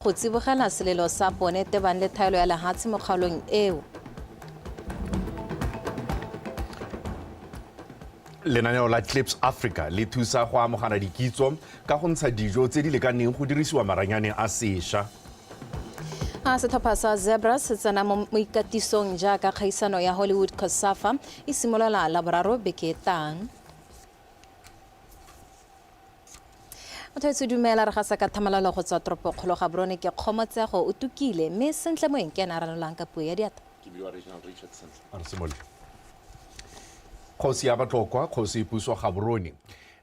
Go tsibogela selelo sa bone tebang le thaelo ya lehatshe mo kgaolong eo. Lenaneo la Clips Africa le thusa go amogana dikitso ka go ntsha dijo tse di lekaneng go dirisiwa maranyane a sesha. A setlhopha sa Zebra se tsena mo ikatisong jaaka kgaisano ya Hollywood Cosafa e simolola la boraro beke e tang. Mothaetso dumela, re gasa ka thamalalo go tswa toropokgolo Gaborone ke Kgomotsego, o tukile, mme Sentle Moeng ke ene a ranolang ka puo ya diatla. Ke bidiwa Reginald Richardson. A re simolole. Kgosi ya Batlokwa, Kgosi Puso Gaborone,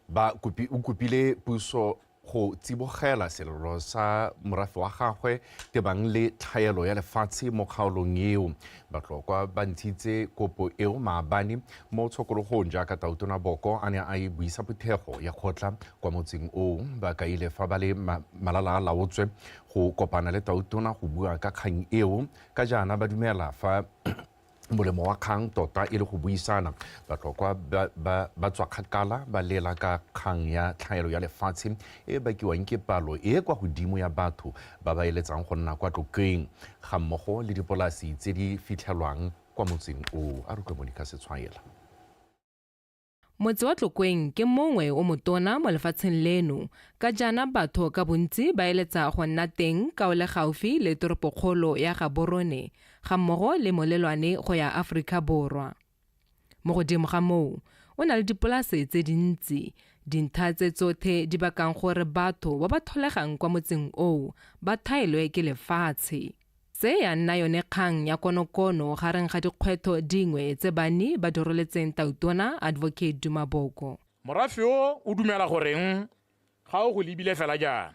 ba kopi, o kopile puso go tsibogela selelo sa morafe wa gagwe tebang le tlhaelo ya lefatshe mo kgaolong eo. Batlokwa ba ntshitse kopo eo maabane mo tshokologong jaaka Tautona Boko a ne a e buisa phuthego ya kgotla kwa motseng oo. Ba kaile fa ba le malala a laotswe go kopana le Tautona go bua ka kgang eo ka jaana ba dumela fa molemo wa kgang tota e le go buisana batlhokwa ba tswa kgakala ba lela ka kgang ya tlhaelo ya lefatshe e e bakiwang ke palo e e kwa godimo ya batho ba ba eletsang go nna kwa tlokeng ga mmogo le dipolasi tse di fitlhelwang kwa motseng oo a re utlwe monica setshwaela Motse wa Tlokweng ke mongwe o motona mo lefatsheng leno, ka jaana batho ka bontsi ba eletsa go nna teng ka o le gaufi le toropokgolo ya Gaborone ga mmogo le molelwane go ya Aforika Borwa. Mo godimo ga moo, o na le dipolase tse dintsi, dintlha tse tsothe di bakang gore batho ba ba tholegang kwa motseng oo ba thaelwe ke lefatshe. Tse ya nna yone kgang ya konokono gareng ga dikgwetho dingwe tse banni ba di roletseng Tautona Advocate Duma Boko. Morafe o o dumela goreng ga o go lebile fela jaana,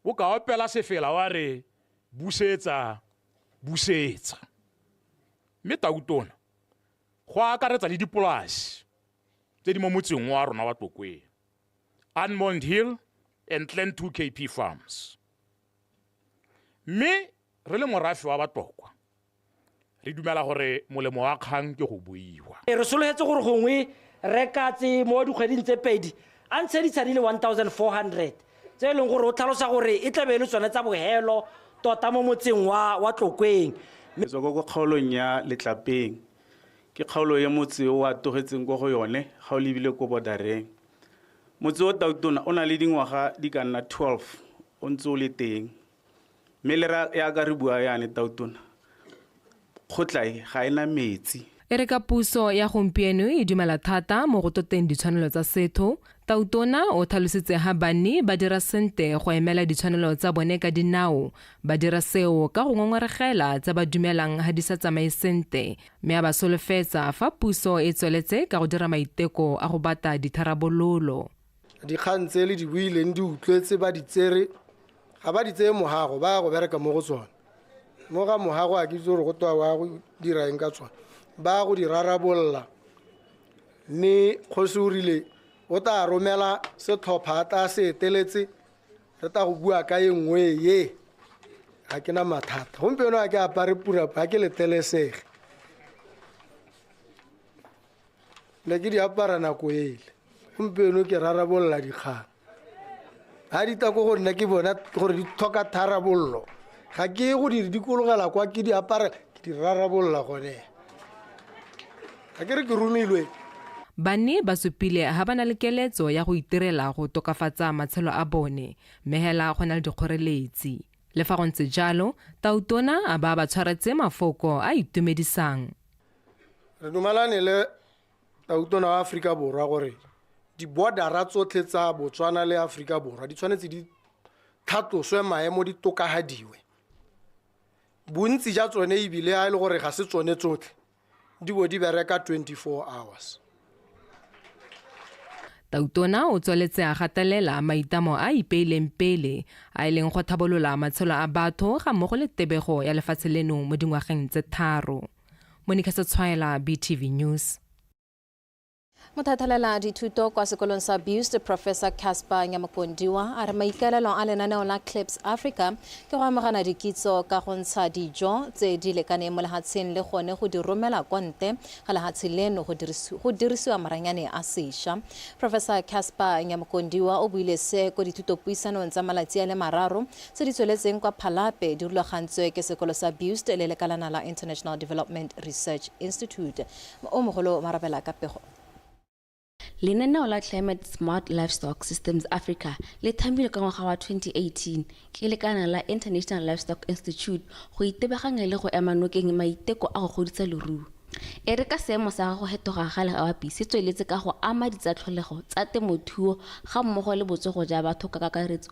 o ka opela sefela wa re busetsa, busetsa. Mme Tautona, go akaretsa le dipolasi tse di mo motseng o wa rona wa Tlokweng, Anmond Hill and Clan 2 KP Farms. Mme re le morafe wa Batokwa, re dumela gore molemo wa kgang ke go buiwa. Re sologetse gore gongwe Rre Katse mo dikgweding tse pedi a ntshe ditshadi le 1400 tse e leng gore o tlhalosa gore e tla be e le tsone tsa bohelo tota mo motseng wa wa Tlokweng. Ke tswa kwa kwa kgaolong ya Letlapeng. Ke kgaolo e motse o a togetseng kwa go yone ga o lebile ko bodareng. Motse o tautona o na le dingwaga di ka nna 12 o ntse o le teng mme le ra ya ka re bua yane tautona kgotla e ga ena metsi E re ka puso ya gompieno e dumela thata mo go toteng ditshwanelo tsa setho, Tautona o tlhalositse ha banni ba dira sente go emela ditshwanelo tsa bone ka dinao, ba dira seo ka go ngongoregela tse ba dumelang ha di sa tsamaye sente, mme a ba solofetsa fa puso e tsweletse ka go dira maiteko a go bata ditharabololo. dikgang tse le di buileng di utlwetse ba di tsere ga ba di tseye mogago ba ya go bereka mo go tsone mo ga mogago a ke itse gore go twa wa go dira eng ka tsone ba ya go di rarabolola mme kgosi o rile o tla romela setlhopha a tla se eteletse re tla go bua ka e nngwe ye ga ke na mathata gompieno ga ke apare purapa ga ke letelesege ne ke di apara nako ele gompieno ke rarabolola dikgang ga di tla ko go nna ke bona gore di tlhoka tharabololo ga ke go di dikologela kwa ke di apara ke di rarabolola gone ga ke re ke romilwe Banni ba supile ga ba na le keletso ya go itirela go tokafatsa matshelo a bone, mme hela go na le dikgoreletsi. Le fa go ntse jalo, Tautona a ba ba tshwaretse mafoko a itumedisang. re dumalane le tautona wa aforika borwa gore dibodara tsotlhe tsa botswana le aforika borwa di tshwanetse di thatloswe maemo di tokagadiwe bontsi ja tsone ebile a e le gore ga se tsone tsotlhe di bo di bereka 24 hours tautona o tsweletse a gatelela maitamo a ipeileng pele a e leng go thabolola matshelo a batho ga mmogo le tebego ya lefatshe leno mo dingwageng tse tharo monika sa tshwaela btv news Mothatalela dithuto kwa sekolong sa Bust Professor Casper Nyamokondiwa a re maikaelelo a lenaneo la Clips Africa ke go amogana dikitso ka go ntsha dijo tse di lekaneng mo lehatsheng le gone go di romela kwa nte ga lehatshe leno go dirisiwa maranyane a sesha. Professor Casper Nyamokondiwa o buile se ko dithutopuisanong tsa malatsi a le mararo tse di tsweletseng kwa Phalape di rulagantswe ke sekolo sa BUIST le lekalana la International Development Research Institute. O mogolo o marabela ka pego. Lenaneo la Climate Smart Livestock Systems Africa le thamilwe ka ngwaga wa 2018 ke lekalana la International Livestock Institute go itebaganya le go ema nokeng maiteko a go godisa leruo. E re ka seemo sa go hetoga ga legapi se tsweletse ka go ama ditsatlholego tsa temothuo ga mmogo le botsogo ja batho ka kakaretso,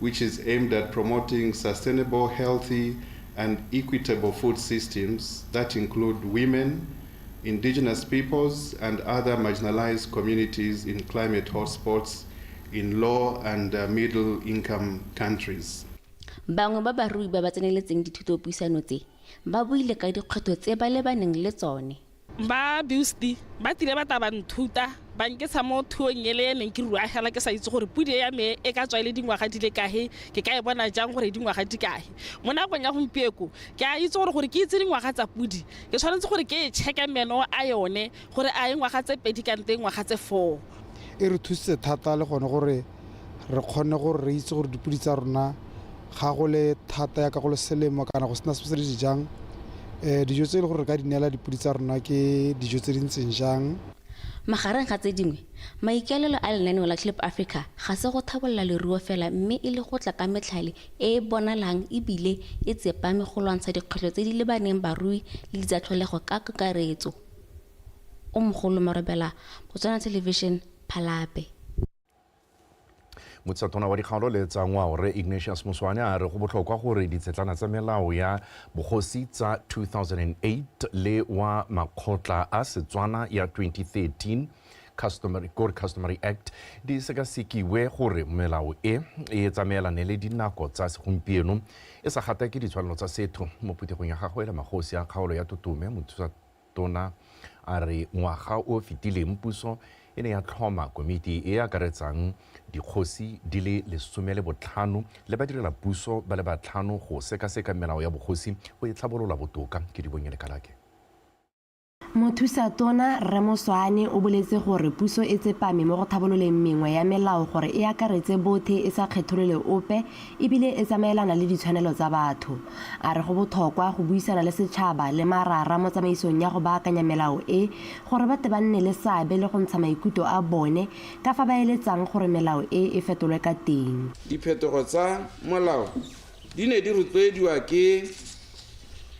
which is aimed at promoting sustainable, healthy, and equitable food systems that include women, indigenous peoples, and other marginalized communities in climate hotspots in low and uh, middle income countries. bangwe ba barui ba ba tseneletseng dithutopuisano tse ba buile ka dikgwetlho tse ba lebaneng le tsone Ba Busti ba tlile ba tla ba nthuta ba nketsa mo thuong ele e neng ke ruagela ke sa itse gore pudi ya me e ka tswa e le dingwaga di le kahe ke ka e bona jang gore dingwaga di kahe mo nakong ya gompieko ke a itse gore gore ke itse dingwaga tsa pudi ke tshwanetse gore ke e checke meno a yone gore a e ngwaga tse pedi kante e ngwaga tse four e re thusitse thata le gone gore re kgone gore re itse gore dipodi tsa rona ga go le thata ya ka go le selemo kana go sena se se di jang um dijo tse e le gore re ka di neela dipodi tsa rona ke dijo tse di ntseng jang Magareng ga tse dingwe, maikaelelo a lenaneo la Clip Africa ga se go thabolla leruo fela mme e le go tla ka metlhale e e bonalang e bile e tsepame go lwantsha dikgwetlho tse di lebaneng barui le di tsa tlholego ka kakaretso. O mogolo Marobela, Botswana Television, Phalape. motshetsatona wa dikgaolo le tsa ngwao re ignatius moswane a re go botlhokwa gore ditshetlana tsa melao ya bogosi tsa 2008 le wa makgotla a setswana ya 2013 customary, code customary act di sekasekiwe gore melao e e tsamaelane le dinako tsa segompieno e sa gatake ditshwanelo tsa setho mo phuthegong ya gagwe le magosi a kgaolo ya totome Tona a re ngwaga o o fetileng puso e ne ya tlhoma komiti e e akaretsang dikgosi di le lesome le botlhano le badirela puso ba le batlhano go sekaseka melao ya bogosi go e tlhabolola botoka. Kedibonye Lekalake. Mothusatona Rre Moswane o boletse gore puso e tsepame mo go tlhabololeng mengwe ya melao gore e akaretse bothe e sa kgetholole ope e bile e tsamaelana le ditshwanelo tsa batho. A re go bothokwa go buisana le setšhaba le marara mo tsamaisong ya go baakanya melao e gore ba tle ba nne le seabe le go ntsha maikutlo a bone ka fa ba eletsang gore melao e e fetolwe ka teng. Diphetogo tsa molao di ne di rotloediwa ke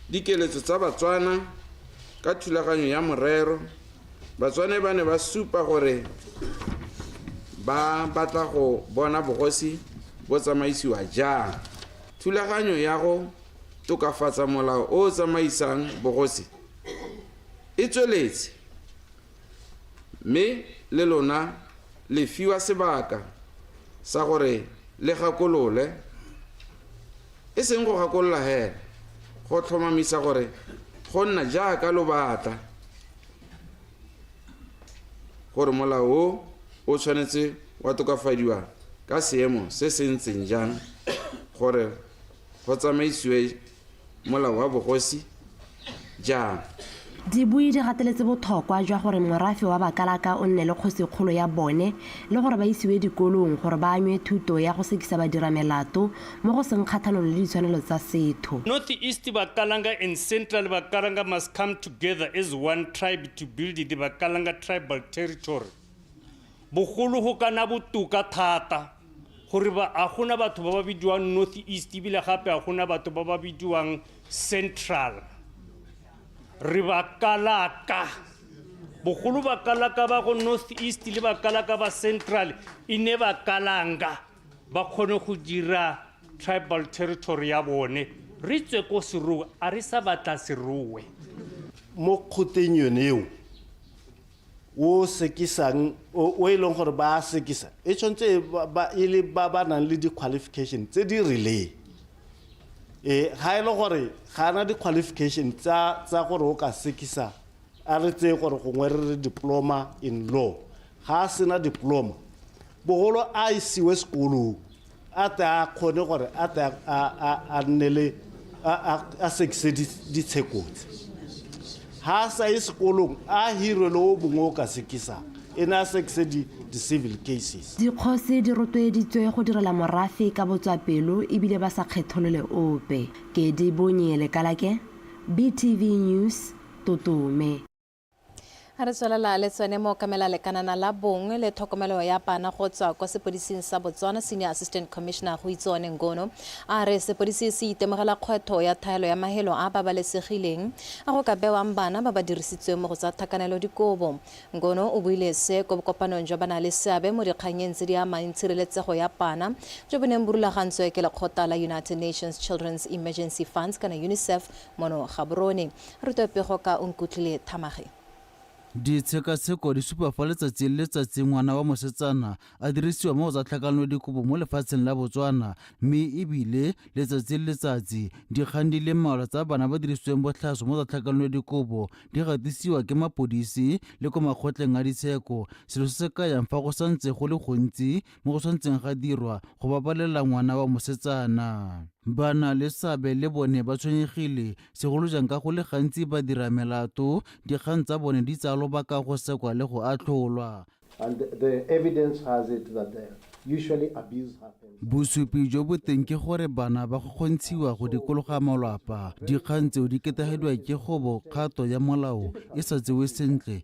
dikeletso tsa Batswana ka thulaganyo ya morero, batswane ba ne ba supa gore ba batla go bona bogosi bo tsamaisiwa jang thulaganyo ya go tokafatsa molao o o tsamaisang bogosi e tsweletse mme le lona le fiwa sebaka sa gore le gakolole e seng go gakolola hela go tlhomamisa gore go nna jaaka lo batla gore molao o o tshwanetse wa tokafadiwa ka seemo se se ntseng jang gore go tsamaisiwe molao wa bogosi jang dibui di gateletse bothokwa jwa gore morafe wa bakalaka o nne le kgosikgolo ya bone le gore ba isiwe dikolong gore ba anywe thuto ya go sekisa badira melato mo go seng kgathalolo le ditshwanelo tsa setho. North East Bakalanga and Central Bakalanga must come together as one tribe to build the Bakalanga tribal territory. Bogolo go ka na botoka thata gore ba a gona batho ba ba bidiwang North East ebile gape a gona batho ba ba bidiwang Central. Re Bakalaka. Bogolo Bakalaka ba go North East le Bakalaka ba Central e ne Bakalanga. ba kgone go dira tribal territory ya bone re tswe ko seruwe a re sa batla seruwe mo kgoteng yone eo o sekisang o e leng gore ba sekisa e tshwanetse e le ba ba nang le di-qualification tse di rileng e ga e le gore ga ana di-qualification tsa gore o ka sekisa a re tseye gore gongwe re re diploma in law ga a sena diploma bogolo a isiwe sekolong a tle a kgone gore a tle a nne le a sekise ditshekotse ga a sa ye sekolong a hirwe le o mongwe o ka sekisang e ne a sekise di-civil cases dikgosi di rotloeditswe go direla morafe ka botswapelo ebile ba sa kgetholole ope kedi bonye lekalake btv news totome a re tswelela le tsene mo kamela lekanana la bongwe le tlhokomelo ya bana go tswa kwa sepodising sa botswana senior assistant commissioner go itse one ngono a re sepodisi se itemogela kgwetho ya thaelo ya mahelo a babalesegileng a go ka bewang bana ba ba dirisitsweng mo go tsa tlhakanelo dikobo ngono o buile se ko bokopanong jwa bana le seabe mo dikganyeng tse di amang tshireletsego ya bana jo bo neng bo rulagantswe ke lekgota la united nations children's emergency funds kana unicef Mono Gaborone. Re twe pego ka o nkutlwile Thamage. Ditshekatsheko di supa fa letsatsi le letsatsi ngwana wa mosetsana a dirisiwa mo go tsa tlhakanelodikobo mo lefatsheng la Botswana mme e bile letsatsi le letsatsi dikgang di le mmalwa tsa bana ba dirisitsweng botlhaswa mo tsa tlhakanelodikobo di gatisiwa ke mapodisi le kwa makgotleng a ditsheko selo se se kayang fa go santse go le gontsi mo go tshwanetseng ga dirwa go babalela ngwana wa mosetsana bana le seabe le bone ba tshwenyegile segolo jang ka go le gantsi ba dira melato dikgang tsa bone di tsaya lobaka go sekwa le go atlholwa And the, the evidence has it that the, usually abuse happens. bosupi jo bo teng ke gore bana ba go kgontshiwa go dikologa malwapa dikgang tseo di ketagedwa ke go bo kgato ya molao e sa tsewe sentle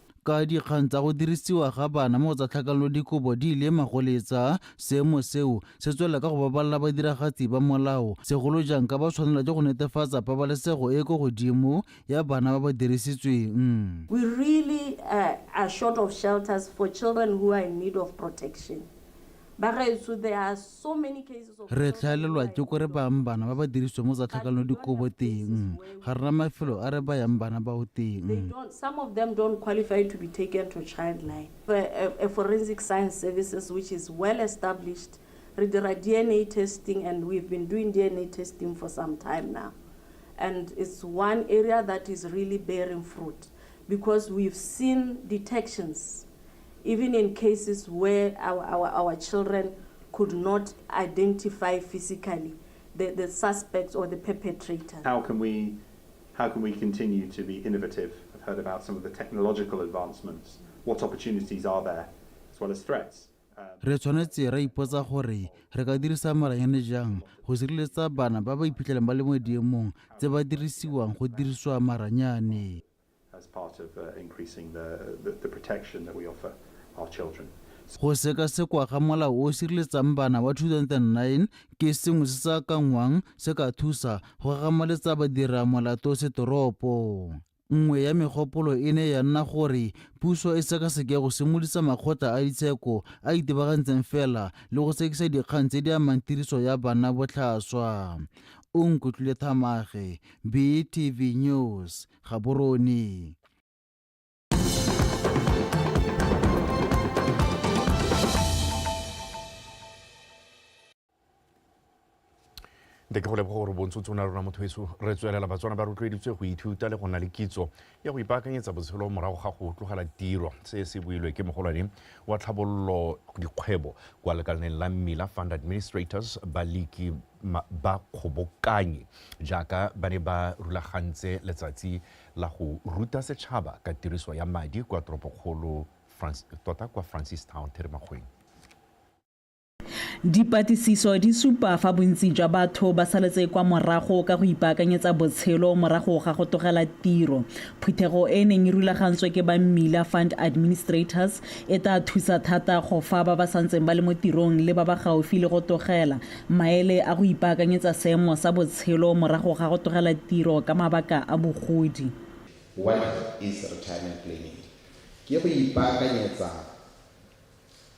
Ka dikgang tsa go dirisiwa ga bana mo go tsa tlhakanelo dikobo di ile magoletsa, seemo seo se tswelela ka go babalela badiragatsi ba molao, segolo jang ka ba tshwanelwa ke go netefatsa pabalesego e e ko godimo ya bana ba ba dirisitsweng. We really are short of shelters for children who are in need of protection. Re tlhaelelwa ke kore bang bana ba ba diriswe mo tsa tlhakanelo dikobo teng. Ga rena mafelo a re bayang bana bao teng. Eh, eh, forensic science services which is well established. Re dira DNA testing and we've been doing DNA testing for some time now. And it's one area that is really bearing fruit because we've seen detections Even in cases where our, our, our children could not identify physically the, the suspects or the perpetrators. How can we how can we continue to be innovative? I've heard about some of the technological advancements. What opportunities are there as well as threats? Um, re tshwanetse ra ipotsa gore re ka dirisa maranyane jang go sireletsa bana ba ba iphitlhelang ba le mo diemong tse ba dirisiwang go dirisiwa maranyane Go sekasekwa ga molao o o sireletsang bana wa 2009 ke sengwe se se akanngwang se ka thusa go gagamoletsa badiramolato setoropo. Nngwe ya megopolo e ne ya nna gore puso e sekaseke go simolisa makgotla a ditsheko a itebagantseng fela le go sekisa dikgang tse di amang tiriso ya bana botlhaswa. O nkutlwile thamage, BTV News Gaborone nte ke go leboga gore bontshotse o ne rona motho weso re tswelela batswana ba rotloeditswe go ithuta le go nna le kitso ya go ipaakanyetsa botshelo morago ga go tlogela tiro se se builwe ke mogolwane wa tlhabololo dikgwebo kwa lekalaneng la mmila fund administrators baliki ba kgobokanyi jaaka ba ne ba rulagantse letsatsi la go ruta setšhaba ka tiriso ya madi kwa toropokgolo tota kwa francistown therimakgweng Dipatlisiso di supa fa bontsi jwa batho ba saletse kwa morago ka go ipaakanyetsa botshelo morago ga go togela tiro. Phuthego e e neng e rulagantswe ke ba Mmila Fund Administrators e tla thusa thata go fa ba ba santseng ba le mo tirong le ba ba gaufi le go togela, maele a go ipaakanyetsa seemo sa botshelo morago ga go togela tiro ka mabaka a bogodi. What is retirement planning? Ke go ipaakanyetsa.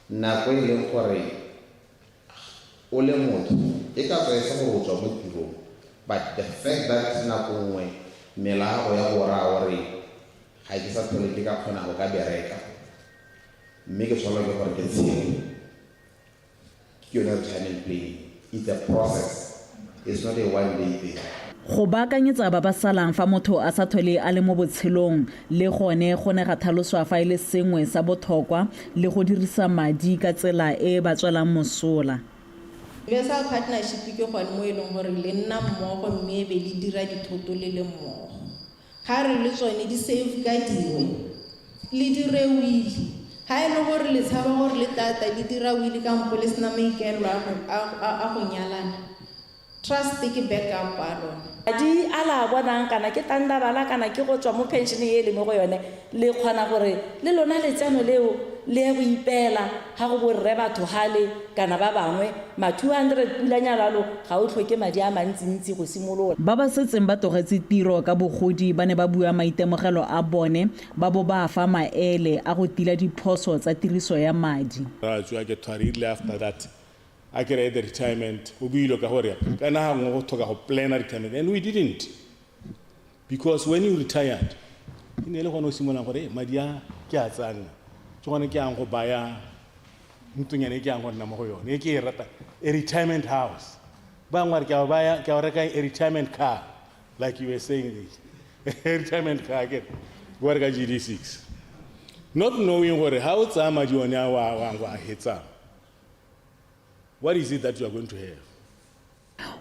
Nako e e leng gore o le motho e ka tswa e se gore o tswa mo tirong but the fact that nako nngwe mela ya gago ya go raya o re ga ke sa tlhole ke ka kgona go ka bereka mme ke tshwanelwa ke gore ke tshele. Ke yone ya go channel planning. It's a process. It's not a one day thing. Go baakanyetsa ba ba salang fa motho a sa thole a le mo botshelong le gone go ne ga thaloswa fa e le sengwe sa bothokwa le go dirisa madi ka tsela e e ba tswelang mosola. Universal Partnership ke gone mo e leng gore le nna mmogo mme e be le dira dithoto le le mmogo. Ga re le tsone di safe ka dingwe le dire wili. Ga e le gore le tshaba gore le tata le dira wili kampo le sena maikaelelo a go, a, a, a go nyalana, trust ke backup a lona. Madi a le a bonang, kana ke tandabala kana ke go tswa mo pension e le mo go yone, Le kgona gore le lona letseno leo le ye go ipeela ga go borre batho gale kana ba bangwe ma 200 pula nyalalo ga o tlhoke madi a mantsintsi go simolola. Ba ba setseng ba tlogetse tiro ka bogodi ba ne ba bua maitemogelo a bone ba bo ba fa maele a go tila diphoso tsa tiriso ya madi. Ra tswa ke thari erile after that a kere at the retirement o buile ka gore kana ga nngwe go thoka go planner retirement and we didn't. because when you retired e ne e le gone o simololang gore "Eh, madi a ke a tsa nna ke gone ke yang go baya ntlonyana e ke yang go nna mo go yone e ke e rata a retirement house bangwe ba re ke a o baya- ke a o reka a retirement car like you were saying this a retirement car ke wa reka gd6 not knowing gore ha o tsaya madi one a wa wa wa hetsang what is it that you are going to have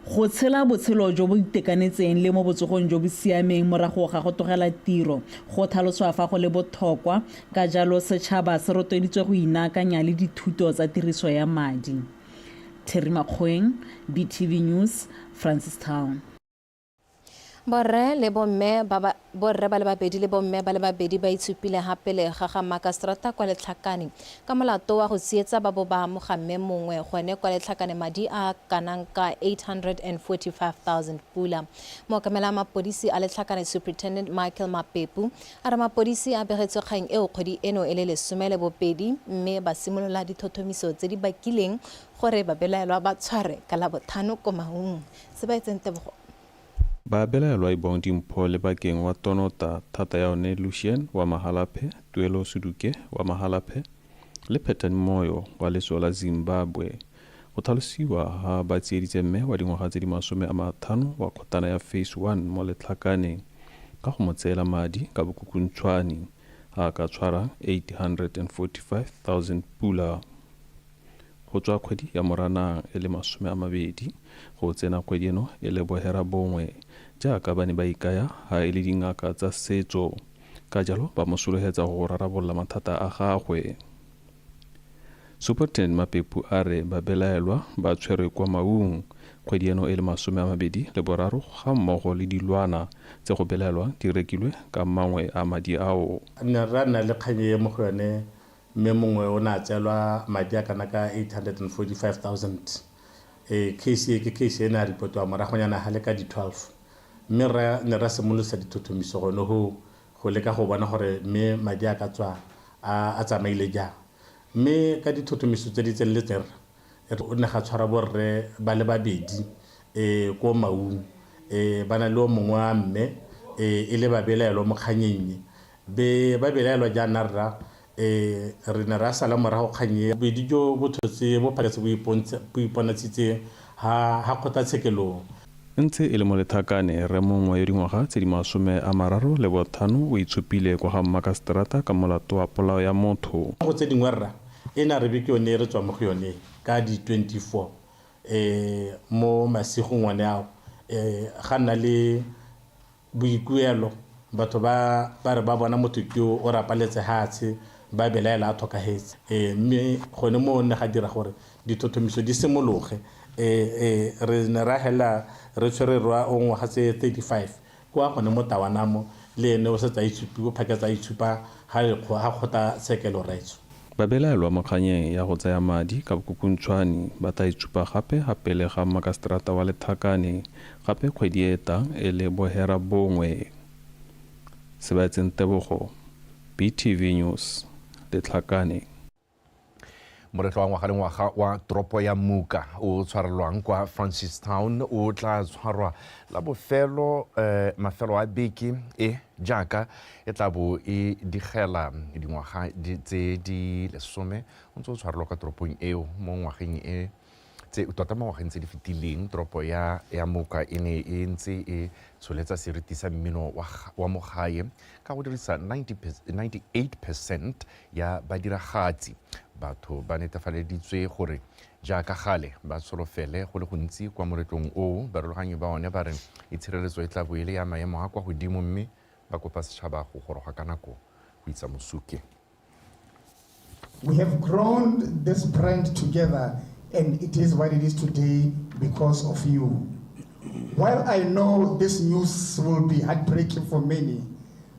Go tshela botshelo jo bo itekanetseng le mo botsogong jo bo siameng morago ga go tlogela tiro go tlhaloswa fa go le bothokwa, ka jalo setšhaba se rotloeditswe go inaakanya le dithuto tsa tiriso ya madi. Terry Makgoeng, BTV News, Francistown. borre le bomme ba ba borre ba le babedi le bomme ba le babedi ba itshupile ga pele ga ga makastrata kwa letlhakane ka molato wa go tsietsa ba bo ba amoga mme mongwe gone kwa letlhakane madi a kanang ka 845000 pula mookamela mapodisi a letlhakane superintendent michael mapepu a re mapodisi a begetswe kgang eo kgwedi eno e le lesome le bobedi mme ba simolola dithothomiso tse di bakileng gore babelaelwa ba tshware ka labothano ko maung se ba etseng tebogo. Ba belaelwa e bong dimpho le bakeng wa Tonota thata ya one Lucien wa Mahalaphe, Tuelo Suduke wa Mahalaphe le Phetani Moyo wa letso la Zimbabwe. Go tlhalosiwa ha ba tsieditse mme wa dingwaga tse di masome a mathano wa kgotana ya Phase One mo Letlhakaneng ka go mo tseela madi ka bokukuntshwani a ka tshwarang 845,000 pula. Go tswa kgwedi ya Moranang e le masome a mabedi go tsena kgwedi eno e le boherabongwe jaaka ba ne ba ikaya ha e le dingaka tsa setso, ka jalo ba mo sologetsa go rarabolola mathata a gagwe. Superintendent Mapepu a re babelaelwa ba tshwerwe kwa Maung kgwedi eno e le masome a mabedi le boraro ga mmogo le dilwana tse go belaelwang di rekilwe ka mangwe a madi ao. Nne rra nna le kgang e mo go yone Mme mongwe o ne a tseelwa madi a kana ka 845,000. Case e ke case e ne a repotiwa moragonyana ga le ka di 12. Mme rre ne ra simolosa dithothomiso gone go go leka go bona gore mme madi a ka tswa a a tsamaile jang. Mme ka dithothomiso tse di tseneletseng rre re go ne ga tshwarwa bo rre ba le babedi ko Maun ba na le o mongwe wa mme e le babelaelwa mo kganyeng e. Be ba belaelwa jaana, Rra, e, re ne ra sala morago kgang e, bobedi jo bo tshotse bo phaketse bo ipontsha, bo iponatshitse ha, ha kgotlatshekelong. Ntse e le molethakane, rre mongwe yo dingwaga tse di masome a mararo le bothano o itshupile kwa ga mmakaseterata ka molato wa polao ya motho. Go tse dingwe, Rra, e ne a re be ke yone e re tswang mo go yone ka di 24, e, mo masigong one ao, e, ga nna le. Boikuelo, Batho ba ba re ba bona motho ke yo o rapaletse hatshe ba belaela a thokahetse. E, mme gone moo ne ga dira gore dithothomiso di simologe. E, e, re ne ra hela re tshwere rwa o ngwaga tse 35 kwa gone mo Tawanamo, le ene o setse a itshupiwe phaketse a itshupa ha kgota tshekelo, Raitso. Babelaelwa mo kganyeng ya go tsaya madi ka bokhukhunthshwani ba tla itsupa gape ga pele ga makaseterata wa Lethakane gape kgwedi e e tang e le bohera bongwe. Sebaetseng Tebogo, BTV News, Letlhakane. Moletlo wa ngwaga le ngwaga wa toropo ya Muka o tshwarelwang kwa Francistown o tla tshwarwa la bofelo mafelo a beke e. Jaaka e tla bo e digela dingwaga tse di lesome o ntse o tshwarelwa kwa toropong eo mo ngwageng e tse tota mo ngwageng tse di fetileng toropo ya ya moka e ne e ntse e tsholetsa seriti sa mmino wa, wa mo gae ka go dirisa 90, 98 percent ya badiragatsi batho ba netefaleditswe gore Jaaka gale, ba tsholofele go le gontsi kwa moletlong oo, barulaganyi ba one ba re itshireletso e tla bo e le ya maemo a kwa godimo mme ba kopa setšhaba go goroga ka nako go itsa mosuke. We have grown this brand together and it is what it is today because of you. While I know this news will be heartbreaking for many,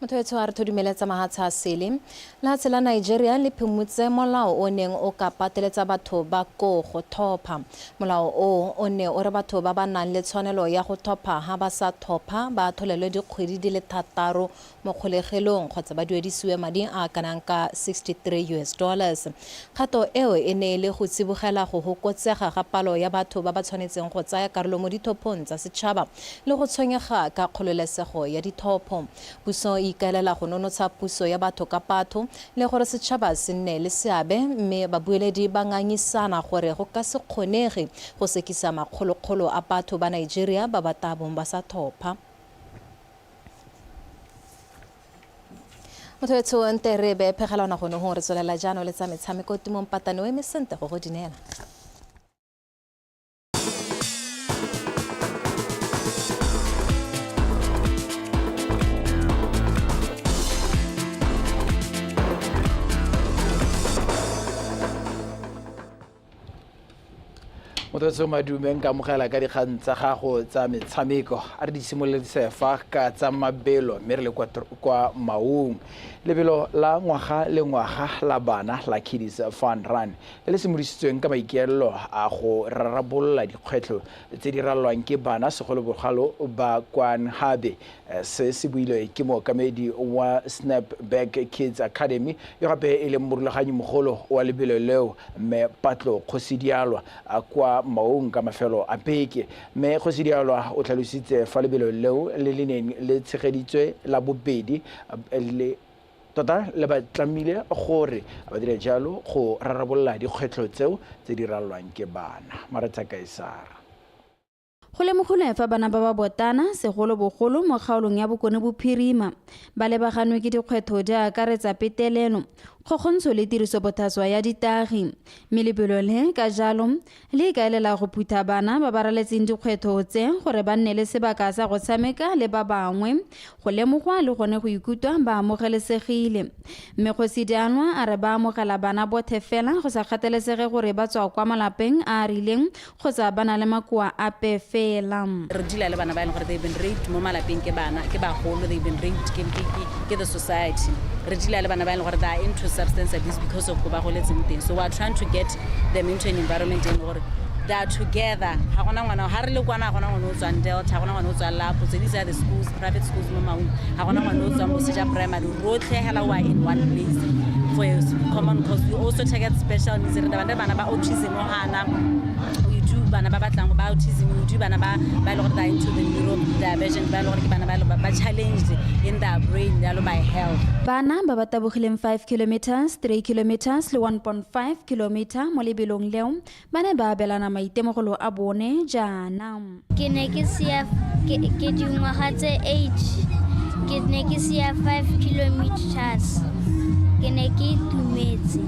motho etsho a re tho dumeletsa mahatsha a sele lehatshe la nigeria le phimotse molao o neng o ka pateletsa batho ba koo go thopha molao o o ne o re batho ba ba nang le tshwanelo ya go thopha ha ba sa thopha ba atholelwe dikgwedi di le thataro mo kgolegelong kgotsa ba duedisiwe madi a kanang ka 63 us dollars kgato eo e ne e le go tsibogela go hokotsega ga palo ya batho ba ba tshwanetseng go tsaya karolo mo dithophong tsa setšhaba le go tshwenyega ka kgololesego ya ditlhopho. Puso e ikaelela go nonotsha puso ya batho ka batho le gore setšhaba se nne le seabe mme babueledi ba ngangisana gore go ka se kgonege go sekisa makgolokgolo a batho ba Nigeria ba ba tabong ba sa thopha. Mothoetsho nte re be phegela ona gone go re tswelela jaanong le tsa metshameko Tumong Patane o eme sente go go dinela. motlatso madumeng ka amogela ka dikgang tsa gago tsa metshameko a re di simololetse fa ka tsa mabelo mme re le kwa maung lebelo la ngwaga le ngwaga la bana la kiddies fun run le le simolositsweng ka maikaelelo a go rarabolola dikgwetlho tse di ralwang ke bana segolobogalo ba kwa Nhabe. Se se builwe ke mookamedi wa Snap Back Kids Academy yo gape e leng morulaganyi mogolo wa lebelo leo, Mme Patlo Kgosidialwa kwa Maung ka mafelo a beke. Mme Kgosidialwa o tlhalositse fa lebelo leo le le neng le tshegeditswe la bobedi le Tota le ba tlamile gore ba dire jalo go rarabolola dikgwetlho tseo tse di ralwang ke bana. Maretsa Kaesara. Go lemogilwe fa bana ba ba botana, segolobogolo mo kgaolong ya Bokone Bophirima, ba lebaganwe ke dikgwetho di akaretsa petelelo, kgokgontsho le tirisobothaswa ya ditagi, mme lebelo le, ka jalo, le ikaelela go phutha bana ba ba raletseng dikgwetho tse gore ba nne le sebaka sa go tshameka le ba bangwe go lemogwa le gone go ikutwa ba amogelesegile mme kgosi dianwa a re ba amogela bana bothe fela go sa kgathalesege gore ba tswa kwa malapeng a a rileng kgotsa ba na le makoa ape fela re dila le bana ba e leng gore they've been raped mo malapeng ke bana ke bagolo they've been raped ke, ke, ke, ke the society re dila le bana ba e leng gore they are into substance abuse because of ko ba goletseng teng so we are trying to get them into an environment e leng gore they are together ga gona ngwana ga re le kwana ga gona ngwana o tswang delta ga gona ngwana o tswang lapo tse di tsa the schools private schools mo maung ga gona ngwana o tswang boseja primary rotlhe hela wa in one place for a common cause we also target special needs re dabane bana ba autism o gana bana ba batlang ba autism o bana ba ba le gore they into the neuro diversion ba le gore ke bana ba ba challenged in their brain ya lo by health bana ba ba tabogileng 5 kilometers 3 kilometers le 1.5 5 kilomita mo lebelong leo ba ne ba abelana maitemogelo a bone jaana ke ne ke sia ke ke dingwaga tse age ke ne ke sia 5 kilometers ke ne ke itumetse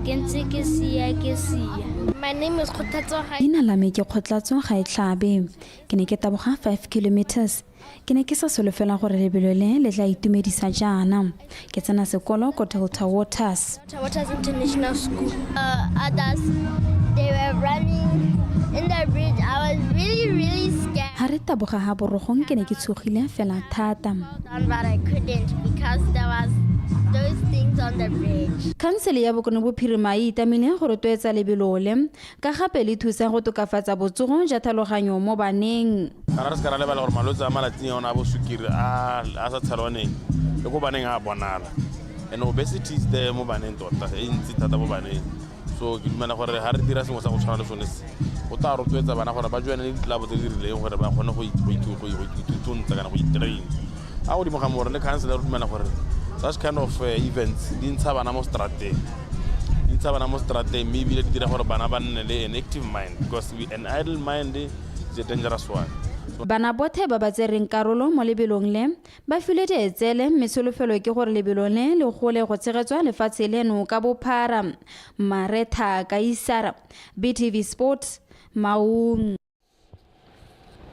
ke ntse ke sia ke sia My name is Kgothatso Ga. leina la me ke kgotlatso ga e tlhabe ke ne ke taboga 5 kilometers ke ne ke sa solofela gore lebelo le le tla itumedisa jaana ke tsena sekolo ko delta waters ga re taboga ga borogong ke ne ke tshogile fela thata khansele ya bokone bophirima e itamile go rotloetsa lebelole ka gape le thusa go tokafatsa botsogo ja thaloganyo mo baneng kana re se ka ra lebala gore malwetse a malatsing a ona a bosukiri a a sa tshelwaneng le ko baneng a bonala and obesity is there mo baneng tota e ntsi thata mo baneng so ke dumela gore ga re dira sengwe sa go tshwana le sone se go tla rotloetsa bana gore ba joane le ditlelabo tse di rileng gore ba kgone go itutuntsha kana go itrain A godimo ga more le councilor dumela gore such kind of uh, events di ntsha bana mo strateng di ntsha bana mo strateng mme ebile di dira gore bana ba nne le an active mind because an idle mind is a dangerous one bana bothe ba ba tsereng karolo mo lebelong le ba filwe teetsele mme tsholofelo ke gore lebelo le le gole go tshegetswa lefatshe leno ka bophara maretha kaisara btv sports maung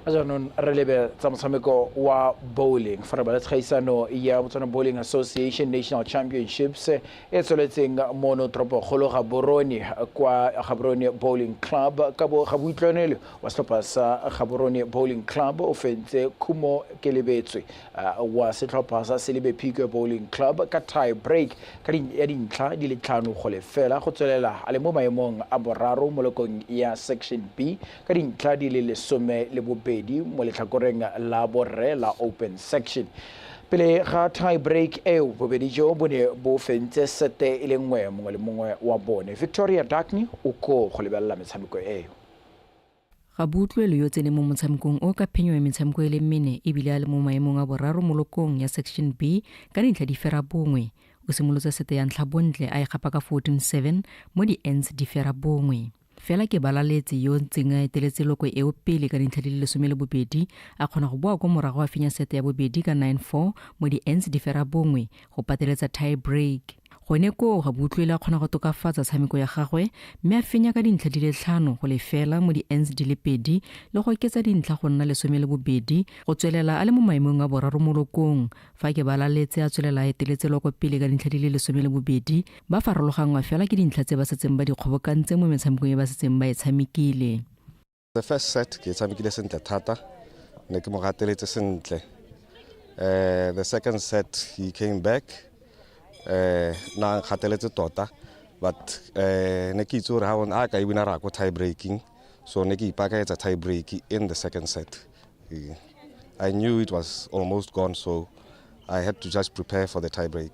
jaanong re lebe tsa motshameko wa bowling fa re bala tshegaisano ya botswana bowling association national championships e tsweletseng mono toropokgolo gaborone kwa gaborone bowling club ka bo gaboitlwanele wa setlhopha sa gaborone bowling club o fentse khumo ke lebetswe wa setlhopha sa Selebe Pique Bowling Club ka tie break ka ya dintlha di le tlhano go lefela go tswelela a le mo maemong a boraro mo lekong ya Section B ka dintlha di le lesome le bobedi mo letlhakoreng la borre la Open Section. Pele ga tie break eo bobedi jo bo ne bo fentse sete e le nngwe mongwe le mongwe wa bone. Victoria Dakni o koo go lebelela metshameko eo. Gabutlwe le yo tsene mo motshamekong o ka phenyo ya metshameko e le mmene e bile a le mo maemong a boraro mo lokong ya Section B ka dintlha di fera bongwe. O simolotse sete ya ntlha bontle a e gapa ka 14-7 mo di-ends di fera bongwe. Fela ke Balaletse yo ntseng a eteletse loko eo pele ka dintlha di le lesome le bobedi a kgona go boa kwa morago a fenya sete ya bobedi ka 9-4 mo di-ends di fera bongwe go pateletsa tie break. Gone koo Rabutlwele a kgona go tokafatsa tshameko ya gagwe mme a fenya ka dintlha di le tlhano go lefela mo di-ends di le pedi le go oketsa dintlha go nna lesome le bobedi go tswelela a le mo maemong a boraro mo lokong. Fa ke balaletse a tswelela a eteletse loko pele ka dintlha di le lesome le bobedi, ba farologangwa fela ke dintlha tse ba setseng ba di kgobokantse mo metshamekong e ba setseng ba e tshamekile. The first set ke tshamekile sentle thata ne ke mo gateletse sentle uh, the second set he came back uh, na gateletse tota but uh, ne ke itse gore ga one a ka e wina ra ko tie breaking so ne ke ipakaetsa tie break in the second set yeah. i knew it was almost gone so i had to just prepare for the tie break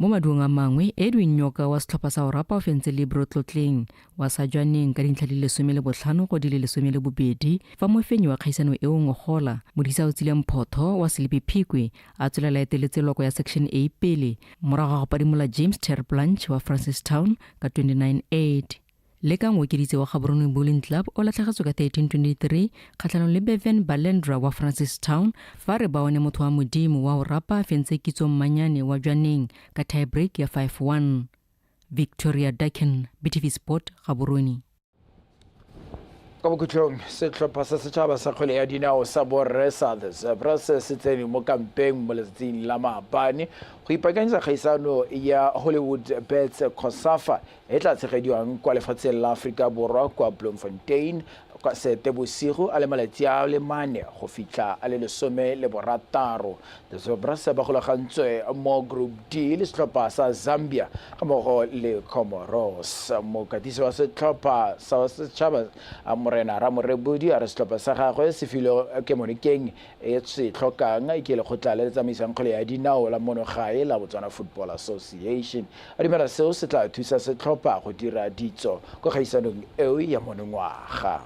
Mo maduong a mangwe, Edwin Nyoka wa setlhopha sa Orapa o fentse Libro tlotleng wa sa jwaneng ka dintlha di le lesome le botlhano go di le lesome le bobedi fa mofenyi wa kgaisano eo Ngogola Modisa o tsile mphotho wa Selebi Phikwe a tswelela eteletse loko ya Section A pele morago ga go padimola James Ter Blanche wa Francistown ka 29 8 le ka ngokeditse wa gaboroneng bowling club o latlhegetswe ka 1323 kgatlhanong le bevan balendra wa francis town fa re baone motho wa modimo wa o rapa fentse kitso mmanyane wa jwaneng ka tiebreak ya 51 victoria ducken btv sport gaborone ka bokhutlhong setlhopha sa setšhaba sa kgwele ya dinao sa borre sa the zebras se tsene mo kampeng mo letsatsing la maabane go ipakanyetsa kgaisano ya hollywood bets cosafa e tla tshegediwang kwa lefatsheng la Aforika Borwa kwa Bloemfontein kwa Seetebosigo a le malatsi a le mane go fitlha a le lesome le borataro. The Zebras ba golagantswe mo Group D le setlhopha sa Zambia ga mmogo le Comoros. Mokatisi wa setlhopha sa setšhaba Morena Ramorebodi a re setlhopha sa gagwe se filwe kemonokeng e se tlhokang ke lekgotla le le tsamaisang kgwele ya dinao la mono gae la Botswana Football Association. A dumela seo se tla thusa setlhopha go dira ditso kwa kgaisanong eo ya monongwaga.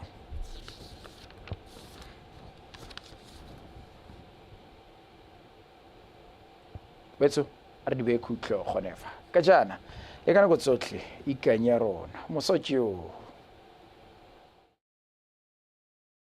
Betso a re di beye khutlo gone fa ka jaana le ka nako tsotlhe ikanya rona mosa joo